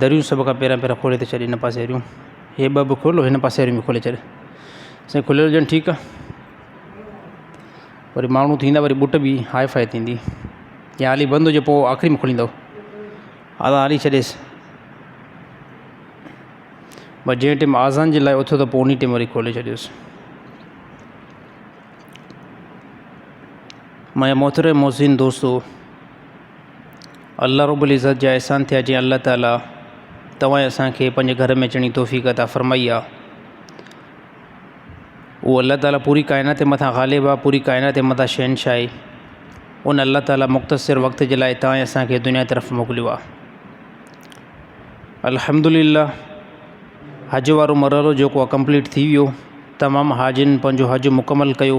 دريون سڀ کان پهريان پهريان کولي ته ڇڏ هن پاسي واريون هي ٻه به کول هن پاسي واريون به کولي ڇڏ سائين کليل هجن ٺيڪ آ وري ماڻهو ٿيندا وري ٻوٽ به هاء فاء ٿيندي يا هالي بند هجي پوء آخري ۾ کليندو آزان هالي ڇڏيس بس جنهن ٽيم آزان جي لاء اٿيو ته پوء انهي ٽيم وري کولي ڇڏيس مايا محترم محسن دوستو الله رب العزت جا احسان ٿيا جنهن الله تعالٰي توهان ۽ اسان کي پنهنجي گهر ۾ اچڻ جي توفيق عطا فرمائي آهي اهو الله تعالٰي پوري ڪائنات جي مٿان غالب آهي پوري ڪائنات جي مٿان شهنشاهه آهي ان الله تعالٰي مختصر وقت جي لاء توهان ۽ اسان کي دنيا طرف موڪليو آهي الحمد لله حج وارو مرحلو جيڪو آهي ڪمپليٽ ٿي ويو تمام حاجين پنهنجو حج مڪمل ڪيو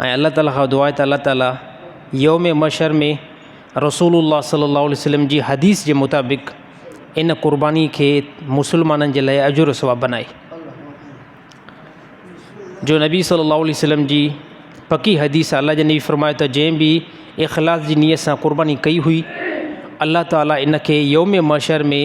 ۽ الله تعاليٰ کان دعا ته الله تعاليٰ يوم محشر ۾ رسول الله صلّي الله عليه وسلّم جي حديث جي مطابق ان قرباني کي مسلمانن جي لاء اجر ثواب بنائي جو نبي صلّي الله عليه وسلّم جي پڪي حديث الله جي نبي فرمايو ته جنهن به اخلاص جي نيت سان قرباني ڪئي هئي الله تعاليٰ ان کي يوم محشر ۾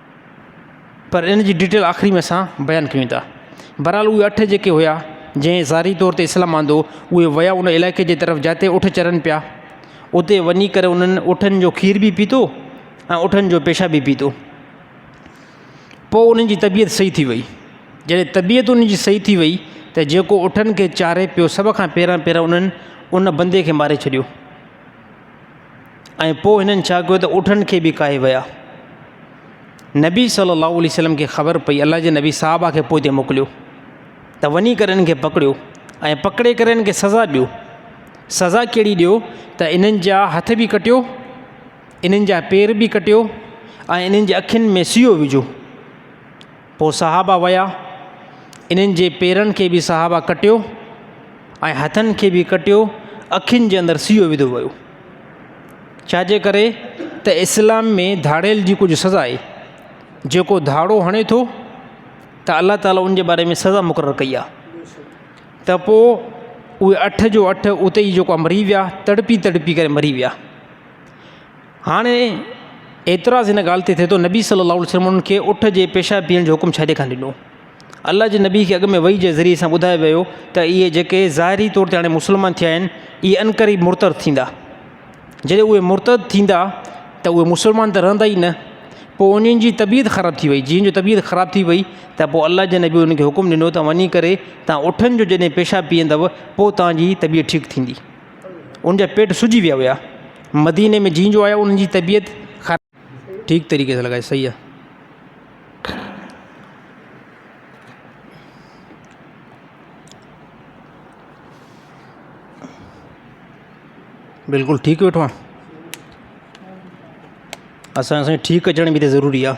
پر ان جي ڊيٽيل آخري ۾ اسان بيان ڪيون ٿا. بھرحال اھي اٺ جيڪي ھيا جنھن ظاھري طور تي اسلام آندو اھي ويا ان علائقي جي طرف جاتي اٺ چرن پيا اتي وڃي ڪري انھن اٺن جو کير به پيتو ۽ اٺن جو پيشاب به پيتو پوء انھن جي طبيعت صحيح ٿي وئي جڏھن طبيعت انھن جي صحيح ٿي وئي ته جيڪو اٺن کي چاري پيو سڀ کان پھريان پھريان انھن ان بندي کي ماري ڇڏيو. ۽ پوء هنن ڇا ڪيو ته اٺن کي به ڪاهي ويا. نبي صلي الله عليه وسلم کي خبر پئي الله جي نبي صحابه کي پوئتي موڪليو ته وڃي ڪري انهن کي پڪڙيو ۽ پڪڙي ڪري انهن کي سزا ڏيو سزا کيڙي ڏيو ته انهن جا هٿ به ڪٽيو انهن جا پير به ڪٽيو ۽ انهن جي اکين ۾ سيو وجھو پوء صحابه ويا، انهن جي پيرن کي به صحابه ڪٽيو ۽ هٿن کي به ڪٽيو، اکين جي اندر سيو وڌو ويو. ڇا جي ڪري ته اسلام ۾ ڌاڙيل جي ڪجهه سزا آهي، جيڪو ڌاڙو هڻي ٿو ته الله تعاليٰ ان جي باري ۾ سزا مقرر ڪئي آهي. ته پوء اهي اٺ جو اٺ اتي ئي جيڪو مري ويا، تڙپي تڙپي ڪري مري ويا. هاڻي اعتراض ان ڳالهه تي ٿئي ٿو نبي صلّي اللّٰه عليه وسلّم انهن کي اٺ جي پيشاب پيئڻ جو حڪم ڇڏي ڪانه ڏنو. الله جي نبي کي اڳ ۾ وحي جي ذريعي سان ٻڌايو ويو ته اهي جيڪي ظاهري طور تي هاڻي مسلمان ٿيا آهن اهي عنقريب مرتد ٿيندا. جڏهن اهي مرتد ٿيندا ته اهي مسلمان ته رهندا ئي نه. پوء انهن جي طبيعت خراب ٿي وئي. جيئن جو طبيعت خراب ٿي وئي ته پوء الله جي نبي انهن کي حڪم ڏنو ته وڃي ڪري توهان اٺن جو جڏهن پيشاب پيئندؤ پوء توهان جي طبيعت ٺيڪ ٿيندي. ان جا پيٽ سجي ويا هيا مديني ۾ جين جو آيا ان جي طبيعت خراب ٺيڪ طريقي سان لڳائي صحيح آهي بلڪل ٺيڪ ويٺو آهيان اسان سائين ٺيڪ اچڻ به ضروري آهي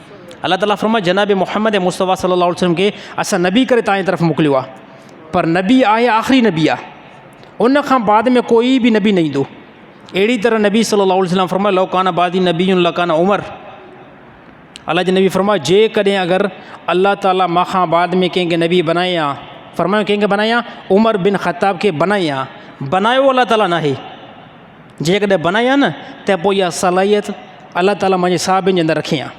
الله تعاليٰ فرمايو جناب محمد مصطفٰي صلّي الله عليه وسلّم کي اسان نبي ڪري تنهنجي طرف موڪليو آهي پر نبي آهي آخري نبي آهي ان کان بعد ۾ ڪوئي بي نبي نه ايندو اهڙي طرح نبي صلّي الله عليه وسلّم فرمايو لو ڪان بعدي نبي الله ڪان عمر الله جي نبي فرمايو جي ڪڏهن اگر الله تعاليٰ ما کان بعد ۾ ڪنهن کي نبي بنائي آ فرمايو ڪنهن کي بنائي آ عمر بن خطاب کي بنائي آ بنايو الله تعاليٰ نه آهي جيڪڏهن بنائي آ نه ته پوء اها صلاحيت الله تعاليٰ منهنجي صحابين جي اندر رکي آ.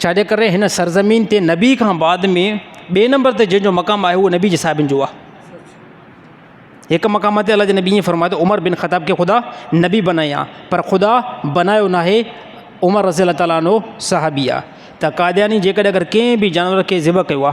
ڇا جي ڪري هن سرزمين تي نبي کان بعد ۾ ٻئي نمبر تي جنهن جو مقام آهي اهو نبي جي صحابين جو آ. هڪ مقام تي الله جي نبي ائين فرمايو ته عمر بن خطاب کي خدا نبي بنائي آ پر خدا بنايو ناهي عمر رضي الله تعالٰي عنه صحابي آ ته قادياني جيڪڏهن اگر ڪنهن به جانور کي ذبح ڪيو آ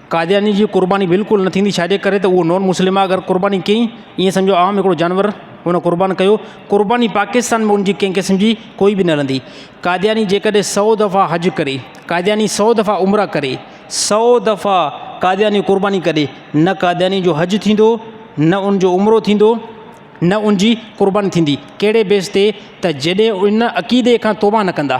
قادياني جي قرباني بلڪل نه ٿيندي ڇاجي ڪري ته اهو نون مسلم آهي اگر قرباني ڪئي ائين سمجهو عام هڪڙو جانور هن قربان ڪيو قرباني پاڪستان ۾ انجي ڪنهن قسم جي ڪوئي به نه هلندي قادياني جيڪڏهن سئو دفعا حج ڪري قادياني سئو دفعا عمره ڪري سئو دفعا قادياني قرباني ڪري نه قادياني جو حج ٿيندو نه انجو عمرو ٿيندو نه انجي قرباني ٿيندي ڪهڙي بيس تي ته جڏهن ان عقيدي کان توبه نه ڪندا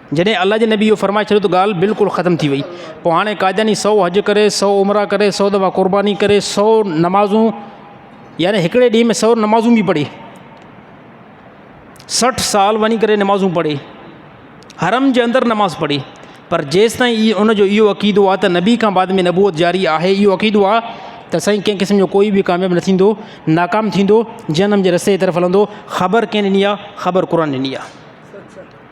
جڏهن الله جي نبي اهو فرمائي ڇڏيو ته ڳالهه بلڪل ختم ٿي وئي. پوء هاڻي قادياني سؤ حج ڪري، سؤ عمرا ڪري، سؤ دفعا قرباني ڪري، سؤ نمازون يعني هڪڙي ڏينهن ۾ سؤ نمازون به پڙهي. سٺ سال وڃي ڪري نمازون پڙهي. حرم جي اندر نماز پڙهي. پر جيستائين اي ان جو اهو عقيدو آهي ته نبي کان بعد ۾ نبوت جاري آهي اهو عقيدو آهي ته سائين ڪنهن قسم جو ڪوئي به ڪامياب نه ٿيندو ناڪام ٿيندو جهنم جي رستي جي طرف هلندو خبر ڪنهن ڏني آهي خبر قرآن ڏني آهي.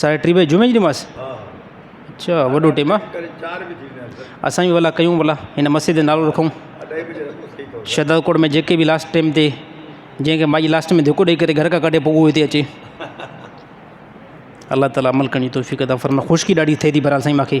ساڍي ٽي بجي جمعي جي نماز اچا وڏو ٽيم آ اسان بي ڀلا ڪيون ڀلا هن مسجد جو نالو رکون شھداد ڪوٽ ۾ جيڪي به لاسٽ ٽيم تي جنهن کي مائي لاسٽ ۾ ڌڪ ڏئي ڪري گھر کان ڪڍي پوء اهو هتي اچي الله تعالٰي عمل ڪرڻ جي توفيق عطا فرمائي خشڪي ڏاڍي ٿئي ٿي برحال سائين ماکي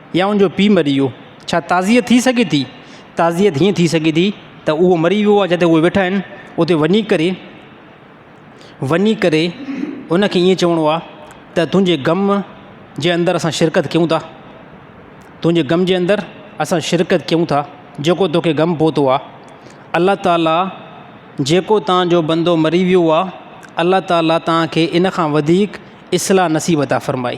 يا ان جو پيء مري ويو. ڇا تعزيت ٿي سگهي ٿي؟ تعزيت هيئن ٿي سگهي ٿي ته اهو مري ويو آهي جتي اهي ويٺا آهن اتي وڃي ڪري وڃي ڪري ان کي ائين چوڻو آهي ته تنهنجي غم جي اندر اسان شرڪت ڪيون ٿا تنهنجي غم جي اندر اسان شرڪت ڪيون ٿا جيڪو توکي غم پهتو آهي الله تعاليٰ جيڪو تان جو بندو مري ويو آهي الله تعاليٰ تان کي ان کان وڌيڪ اصلاح نصيب عطا فرمائي.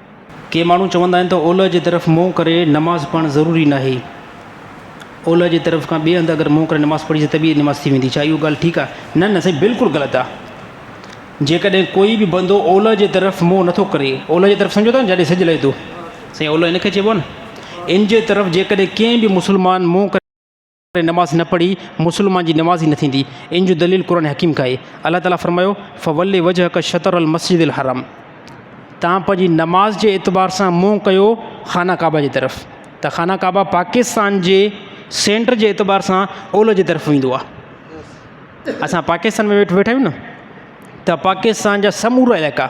ڪي ماڻهو چوندا آهن ته اولهه جي طرف منهن ڪري نماز پڙهڻ ضروري ناهي. اولهه جي طرف کان ٻئي هنڌ اگر منهن ڪري نماز پڙهجي ته به نماز ٿي ويندي. ڇا اهو ڳالهه ٺيڪ آهي؟ نه نه سائين بلڪل غلط آهي. جيڪڏهن ڪوئي به بندو اولهه جي طرف منهن نه ٿو ڪري، اولهه جي طرف سمجهو ٿا نه جڏهن سج لهي ٿو. سائين اولهه ان کي چئبو آهي نه. ان جي طرف جيڪڏهن ڪنهن به مسلمان منهن ڪري. ڪري نماز نه پڙهي مسلمان جي نماز ئي نه ٿيندي ان جو دليل قرآن حڪيم کان آهي الله تعالي فرمايو فول وجهک شطر المسجد الحرام توهان پنهنجي نماز جي اعتبار سان منهن ڪيو خانه ڪعبه جي طرف ته خانه ڪعبه پاڪستان جي سينٽر جي اعتبار سان اولهه جي طرف ويندو آهي اسان پاڪستان ۾ ويٺا آهيون نه ته پاڪستان جا سمورا علائقا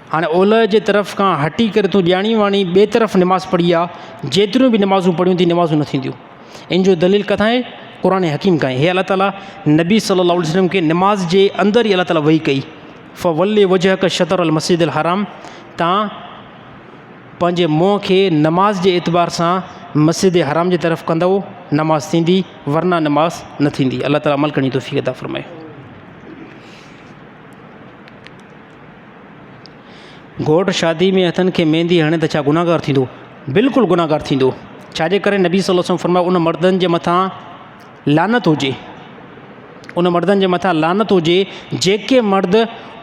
هاڻي اولهه جي طرف کان هٽي ڪري تون ڄاڻي واڻي ٻئي طرف نماز پڙهي آ جيتريون به نمازون پڙهيون ٿي نمازون نه ٿينديون ان جو دليل ڪٿان آهي قرآن حڪيم کان هي الله تعالی نبي صلي الله عليه وسلم کي نماز جي اندر ئي الله تعالی وحي ڪئي فولي وجه ک شطر المسجد الحرام تان پنهنجي منهن کي نماز جي اعتبار سان مسجد حرام جي طرف ڪندو نماز ٿيندي ورنه نماز نه ٿيندي الله تعالی عمل کڻي توفيق عطا فرمائي گهوٽ شادي ۾ هٿن کي ميندي هڻي ته ڇا گناهگار ٿيندو؟ بلڪل گناهگار ٿيندو. ڇا جي ڪري نبي صلي الله عليه وسلم فرمايو ان مردن جي مٿان لعنت هجي ان مردن جي مٿان لعنت هجي جيڪي مرد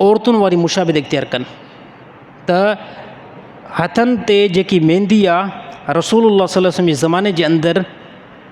عورتن واري مشابهت اختيار ڪن ته هٿن تي جيڪي ميندي آهي رسول الله صلي الله عليه وسلم جي زماني جي اندر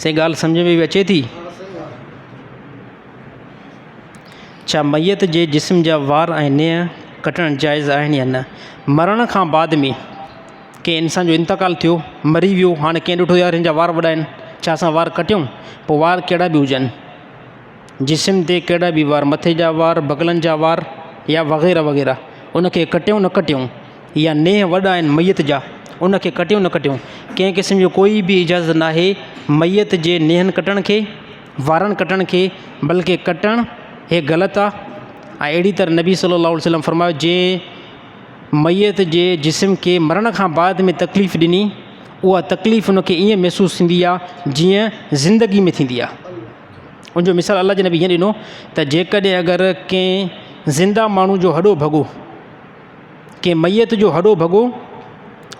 سائين ڳالهه سمجهه ۾ به اچي ٿي؟ ڇا ميت جي جسم جا وار ۽ نينهن ڪٽڻ جائز آهن يا نه؟ مرڻ کان بعد ۾ ڪنهن انسان جو انتقال ٿيو مري ويو هاڻي ڪنهن ڏٺو يار هن جا وار وڏا آهن ڇا اسان وار ڪٽيون پوء وار ڪهڙا به هجن جسم تي ڪهڙا به وار مٿي جا وار بغلن جا وار يا وغيره وغيره ان کي ڪٽيون نه ڪٽيون يا نيهه وڏا آهن ميت جا، ان کي ڪٽيو نه ڪٽيون، ڪنهن قسم جو ڪوئي به اجازت ناهي ميت جي نيهن ڪٽڻ کي، وارن ڪٽڻ کي، بلڪه ڪٽڻ هي غلط آ ۽ اهڙي طرح نبي صلي الله عليه وسلم فرمايو جنهن ميت جي جسم کي مرڻ کان بعد ۾ تڪليف ڏني اها تڪليف ان کي ايئن محسوس ٿيندي آ جيئن زندگي ۾ ٿيندي آ ان جو مثال الله جي نبي هيئن ڏنو ته جيڪڏهن اگر ڪنهن زنده ماڻهو جو هڏو ڀڳو ڪنهن ميت جو هڏو ڀڳو،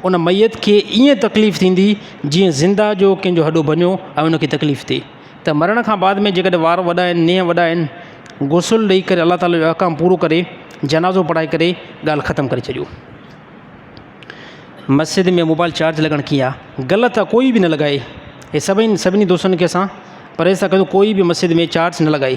ان ميت کي ائين تڪليف ٿيندي جيئن زنده جو ڪنهن جو هڏو ڀڃو ۽ ان کي تڪليف ٿئي ته مرڻ کان بعد ۾ جيڪڏهن وار وڏا آهن نينهن وڏا آهن غسل ڏئي ڪري الله تعالي جو احڪام پورو ڪري جنازو پڙهائي ڪري ڳالهه ختم ڪري ڇڏيو. مسجد ۾ موبائل چارج لڳڻ ڪي آ غلط آ ڪوئي به نه لڳائي هي سڀئي سڀني دوستن کي اسان پرهيز ٿا ڪيون ڪوئي به مسجد ۾ چارج نه لڳائي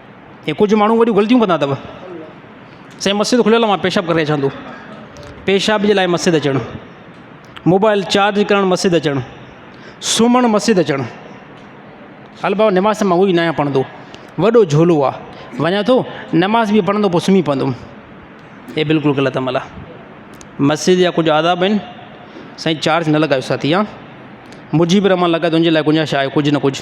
ھي ڪجھ ماڻھو وڏيون غلطيون ڪندا اٿو سائين مسجد کليل آ پيشاب ڪري اچان ٿو پيشاب جي لاء مسجد اچڻ موبائل چارج ڪرڻ مسجد اچڻ سمھڻ مسجد اچڻ ھل بابا نماز ته ھوئي ناھي پڙھندو وڏو جھولو آ وڃان ٿو نماز به پڙھندو پو سمھي پوندم ھي بلڪل غلط عمل آ مسجد جا ڪجھ آداب آھن سائين چارج نه لڳايو ساٿي ھا مجيب الرحمان لڳا تنھنجي لاء گنجائش آھي ڪجھ نه ڪجھ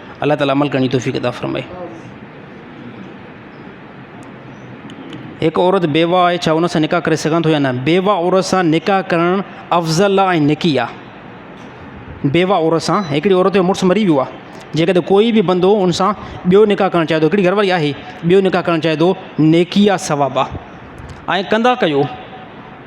الله تعالي عمل ڪرڻ جي توفيق عطا فرمائي. هڪ عورت بيوه آهي ڇا ان سان نڪاح ڪري سگهان ٿو يا نه بيوه عورت سان نڪاح ڪرڻ افضل آ ۽ نڪي آ بيوه عورت سان هڪڙي عورت جو مڙس مري ويو آ جيڪڏهن ڪوئي به بندو ان سان ٻيو نڪاح ڪرڻ چاهي ٿو هڪڙي گهر واري آهي ٻيو نڪاح ڪرڻ چاهي ٿو نيڪي آ ثواب آ ۽ ڪندا ڪيو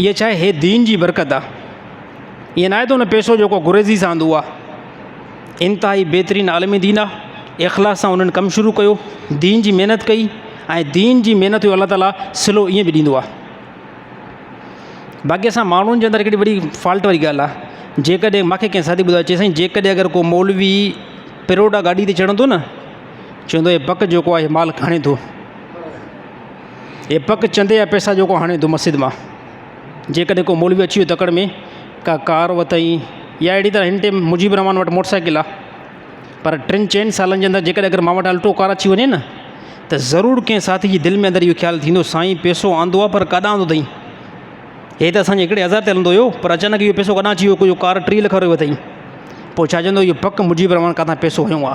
ايء ڇا اهي دين جي برڪت آ ايئن ناهي ته ان پيسو جيڪو گهريز ئي ساندو آ انتهائي بهترين عالم دين آ اخلاص سان انهن ڪم شروع ڪيو دين جي محنت ڪئي ۽ دين جي محنت جو الله تعالا سلو ايئن به ڏيندو آ باقي اسان ماڻهن جي اندر هڪڙي وڏي فالٽ واري ڳالهه آ جيڪڏهن ماکي ڪنهن ساٿي ٻڌايو چي سائين جيڪڏهن اگر ڪو مولوي پروڊا گاڏي تي چڙهندو نه چوندو هي بڪ جيڪو آ اهي مال کڻي ٿو هي پڪ چندي جا پيسا جيڪو هاڻي تو مسجد مان جيڪڏهن ڪو مولوي اچي ويو تڪڙ ۾ ڪا ڪار وتئين يا اهڙي طرح هن ٽيم مجيب الرحمان وٽ موٽر سائيڪل آ پر ٽن چئن سالن جي اندر جيڪڏهن اگر مان وٽ الٽو ڪار اچي وڃي نه ته ضرور ڪنهن ساٿي جي دل ۾ اندر اهو خيال ٿيندو سائين پيسو آندو آ پر ڪاڏانهن آندو اٿئين هي ته اسانجي هڪڙي هزار تي هلندو هيو پر اچانڪ اهو پيسو ڪاڏانهن اچي ويو ڪو جو ڪار ٽي لک وارو وتئين پوء ڇا چوندو اهو پڪ مجيب الرحمان ڪاٿان پيسو هنيو آ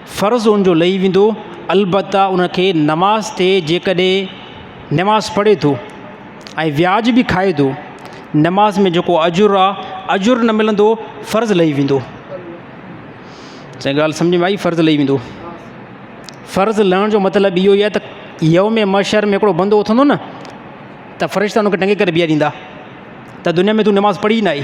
فرض ان جو لهي ويندو، البته ان کي نماز تي جيڪڏهن نماز پڙهي ٿو ۽ وياج به کائي ٿو، نماز ۾ جيڪو اجر آ، اجر نه ملندو، فرض لهي ويندو. سائين ڳالهه سمجهه ۾ آئي فرض لهي ويندو فرض لهڻ جو مطلب اهو ئي آهي ته يوم مشر ۾ هڪڙو بندو اٿندو نه ته فرشتا ان کي ٽنگي ڪري بيهاريندا ته دنيا ۾ تون نماز پڙهي نه آئي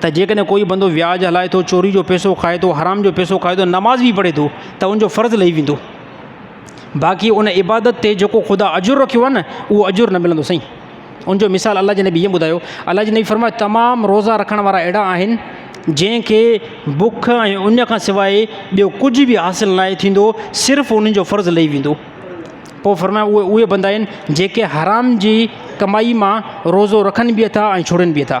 ته جيڪڏهن ڪوئي بندو وياج هلائي ٿو، چوري جو پئسو کائي ٿو، حرام جو پئسو کائي ٿو، نماز به پڙهي ٿو ته ان جو فرض لهي ويندو. باقي ان عبادت تي جيڪو خدا اجر رکيو آهي نه اهو اجر نه ملندو سائين. ان جو مثال الله جي نبي ائين ٻڌايو، الله جي نبي فرمايو تمام روزا رکڻ وارا اهڙا آهن جنهن کي بک ۽ اڃ کان سواء ٻيو ڪجهه به حاصل ناهي ٿيندو صرف انهن جو فرض لهي ويندو. پوء فرمايو اهي اهي بندا آهن جيڪي حرام جي ڪمائي مان روزو رکن به اٿا ۽ ڇوڙين به اٿا.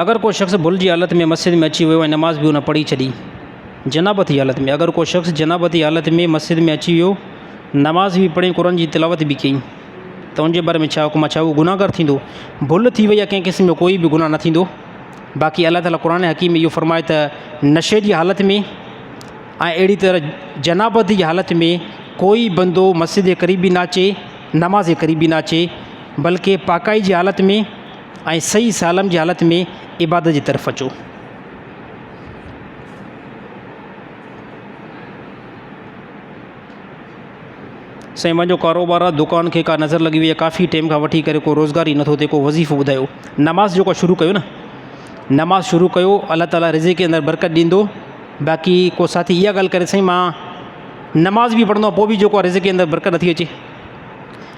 اگر ڪو شخص ڀل جي حالت ۾ مسجد ۾ اچي ويو ۽ نماز به هن پڙهي ڇڏي، جنابت جي حالت ۾، اگر ڪو شخص جنابت جي حالت ۾ مسجد ۾ اچي ويو، نماز به پڙهي ۽ قرآن جي تلاوت به ڪيئي ته ان جي باري ۾ ڇا حڪم آهي؟ ڇا هو گنهگار ٿيندو؟ ڀل ٿي وئي يا ڪنهن قسم جو ڪوئي به گناهه نه ٿيندو، باقي الله تعاليٰ قرآن حڪيم ۾ اهو فرمائي ته نشي جي حالت ۾ ۽ اهڙي طرح جنابت جي حالت ۾ ڪوئي بندو مسجد جي قريب به نه اچي، نماز جي قريب به نه اچي، بلڪه پاڪائي جي حالت ۾، ۽ صحيح سالم جي حالت ۾ عبادت جي طرف اچو. سائين وانجو ڪاروبار آ دڪان کي ڪا نظر لڳي وئي آ ڪافي ٽيم کان وٺي ڪري ڪو روزگار ئي نٿو ٿئي ڪو وظيفو ٻڌايو نماز جيڪو شروع ڪيو ن نماز شروع ڪيو الله تعالٰي رزق جي اندر برڪت ڏيندو باقي ڪو ساٿي اها ڳالهه ڪري سائين ما نماز به پڙهندو آ پوء به جيڪو آ رزق جي اندر برڪت نٿي اچي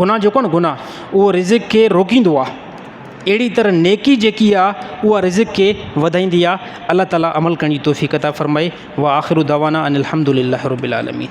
گناهه جيڪو آهي نه گناهه اهو رزق کي روڪيندو آهي اهڙي طرح نيڪي جيڪي آهي اها رزق کي وڌائيندي آهي الله تعالٰي عمل ڪرڻ جي توفيق عطا فرمائي و آخر دعوانا ان الحمد لله رب العالمين